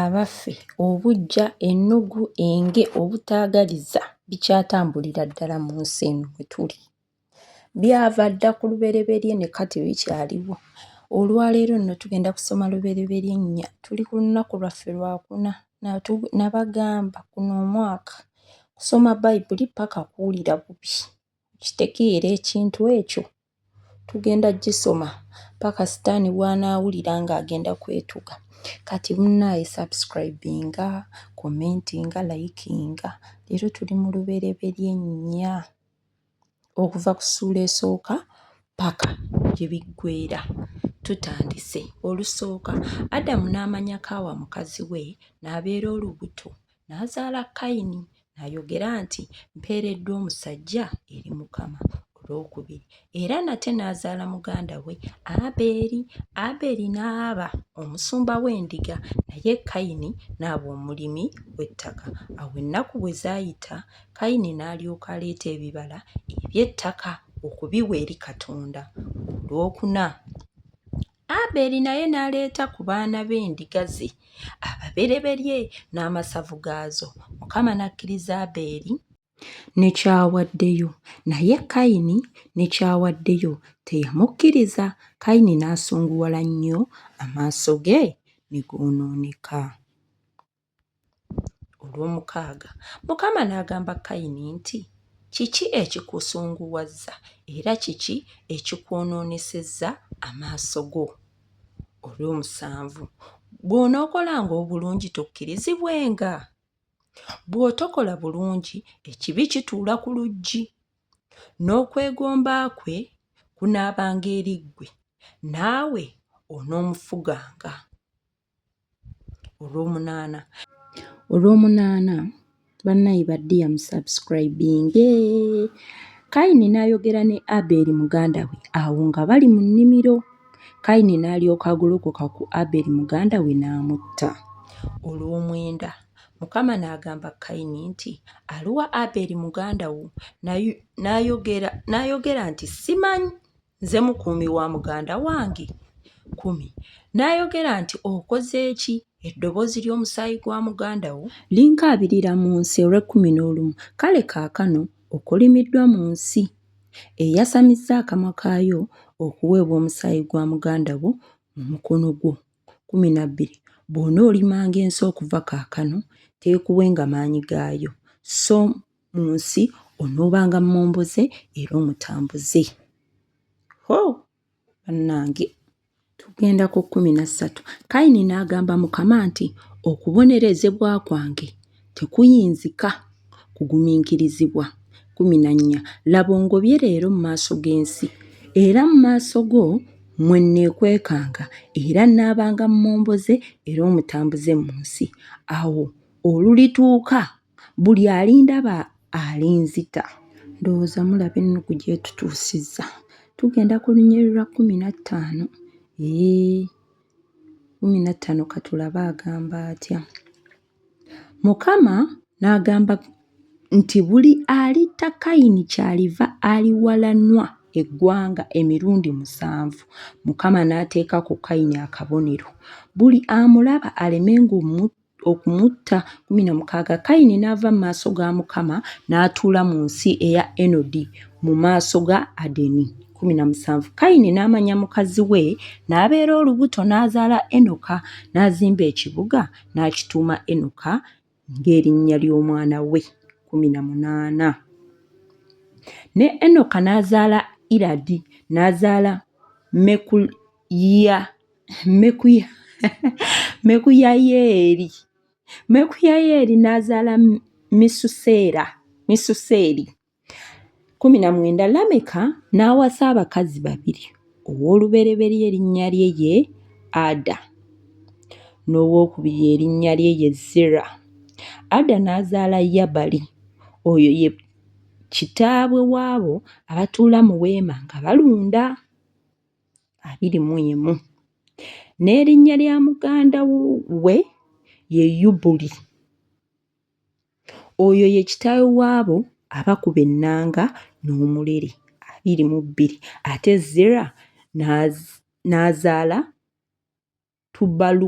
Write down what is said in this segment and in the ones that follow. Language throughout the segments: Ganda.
Abaffe, obuggya, ennugu, enge, obutaagaliza bikyatambulira ddala mu nsi eno mwe tuli? Byava dda ku lubereberye ne kati bikyaliwo. Olwaleero nno tugenda kusoma lubereberye nnya. Tuli ku lunaku lwaffe lwakuna. Nabagamba guno omwaka kusoma Bayibuli paka kuwulira bubi. Okitegeera ekintu ekyo? Tugenda gisoma paka sitaani bwanaawulira nga agenda kwetuga. Kati munnaaye subscribinga, commentinga, likinga. Leero tuli mu lubereberye nnya okuva ku ssuula esooka paka gye biggweera. Tutandise olusooka Adamu n'amanya Kaawa mukazi we n'abeera olubuto N'azaala Kayini, n'ayogera nti, Mpeereddwa omusajja eri Mukama. Olwokubiri, era nate n'azaala muganda we Abeeri. Abeeri n'aba omusumba w'endiga, naye Kayini n'aba omulimi w'ettaka. Awo ennaku bwe zaayita, Kayini n'alyoka aleeta ebibala eby'ettaka okubiwa eri Katonda. Olwokuna, Aberi naye n'aleeta ku baana b'endiga ze ababereberye n'amasavu gaazo, Mukama n'akkiriza Aberi ne ky'awaddeyo, naye Kayini ne ky'awaddeyo teyamukkiriza, Kayini n'asunguwala nnyo, amaaso ge ne goonooneka. Olw'omukaaga Mukama n'agamba Kayini nti, Kiki ekikusunguwazza era kiki ekikwonoonesezza amaaso go? Olw'omusanvu Bw'onookolanga obulungi tokkirizibwenga? Bw'otokola bulungi ekibi kituula ku luggi, n'okwegomba kwe kunaabanga eri ggwe, naawe onoomufuganga. olwomunaana olwomunaana bannayi baddiya musubscribinge kayini n'ayogera ne abeeri muganda we awo nga bali mu nnimiro kayini n'alyoka agolokoka ku abeeri muganda we n'amutta olw'omwenda mukama n'agamba kayini nti aliwa abeeri muganda wo n'ayogera nti simanyi nze mukuumi wa muganda wange kumi n'ayogera nti okoze eki eddoboozi ly'omusaayi gwa muganda wo linkaabirira mu nsi olw'ekkumi n'olumu kale kaakano okolimiddwa mu nsi eyasamizza akamwa kaayo okuweebwa omusaayi gwa muganda wo mu mukono gwo kumi na bbiri bw'onoolimanga ensi okuva kaakano teekuwenga maanyi gaayo so mu nsi onoobanga mmomboze era omutambuze ho bannange tugenda ku kkumi na ssatu kayini n'agamba mukama nti okubonerezebwa kwange tekuyinzika kugumiikirizibwa kumi na nnya laba ongobye leero mu maaso g'ensi era mu maaso go mwe nneekwekanga era nnaabanga mmomboze era omutambuze mu nsi awo olulituuka buli alindaba alinzita ndowooza mulaba ennugu gyetutuusizza tugenda ku lunyeri lwa kumi na ttaano ee kumi na ttaano katulabe agamba atya mukama n'agamba nti buli alitta kayini kyaliva aliwalanwa eggwanga emirundi musanvu mukama n'ateeka ku kayini akabonero buli amulaba alemenga omutta okumutta. Kkumi na mukaaga Kayini n'ava mu maaso ga Mukama n'atuula mu nsi eya Enodi mu maaso ga Adeni. Kkumi na musanvu Kayini n'amanya mukazi we n'abeera olubuto n'azaala Enoka n'azimba ekibuga n'akituuma Enoka ng'erinnya ly'omwana we. Kkumi na munaana ne Enoka n'azaala Iradi n'azaala Mekul ya mekuya mekuyayeeri mekuyayeeri n'azaala misuseera misuseeri kumi na mwenda lameka n'awasa abakazi babiri ow'olubereberye erinnya lye ye ada n'owokubiri erinnya lye ye zira ada n'azaala yabali oyo ye kitaabwe waabo abatuula mu weema nga balunda abiri mu emu n'erinnya lya muganda we ye yubuli oyo ye kitaawe w'abo abakuba ennanga n'omulere abiri mu bbiri ate zera n'azaala tubalu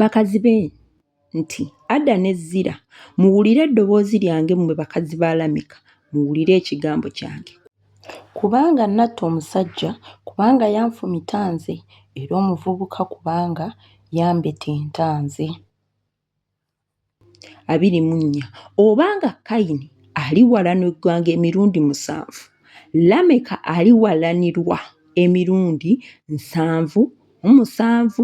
bakazi be nti, Ada ne Zira, muwulire eddoboozi lyange mmwe bakazi ba Lameka, muwulire ekigambo kyange. Kubanga natta omusajja, kubanga yanfumita nze, era omuvubuka kubanga yambetenta nze. Abiri mu nnya. Obanga Kayini aliwalanirwanga emirundi musanvu, Lameka aliwalanirwa emirundi nsanvu mu musanvu.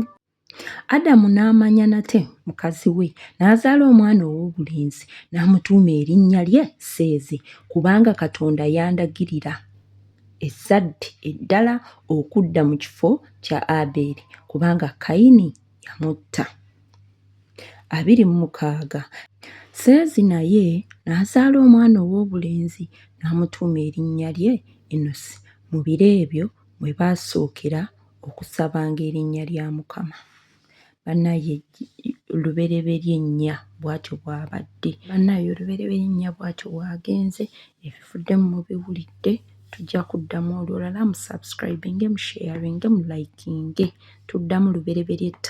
Adamu n'amanya nate mukazi we, n'azaala omwana ow'obulenzi, n'amutuuma erinnya lye Seezi, kubanga Katonda yandagirira ezzadde eddala okudda mu kifo kya Abeeri, kubanga Kayini yamutta. abiri mu mukaaga. Seezi naye n'azaala omwana ow'obulenzi, n'amutuuma erinnya lye Enosi, mu biro ebyo mwe baasookera okusabanga erinnya lya Mukama. Bannaaye lubereberye nnya bw'atyo bw'abadde. Bannaaye olubereberye nnya bw'atyo bw'agenze. Ebivuddemu mubiwulidde, tujja kuddamu olulala. Musubscribinge, musheyaringe, mulayikinge. Tuddamu lubereberye ttako.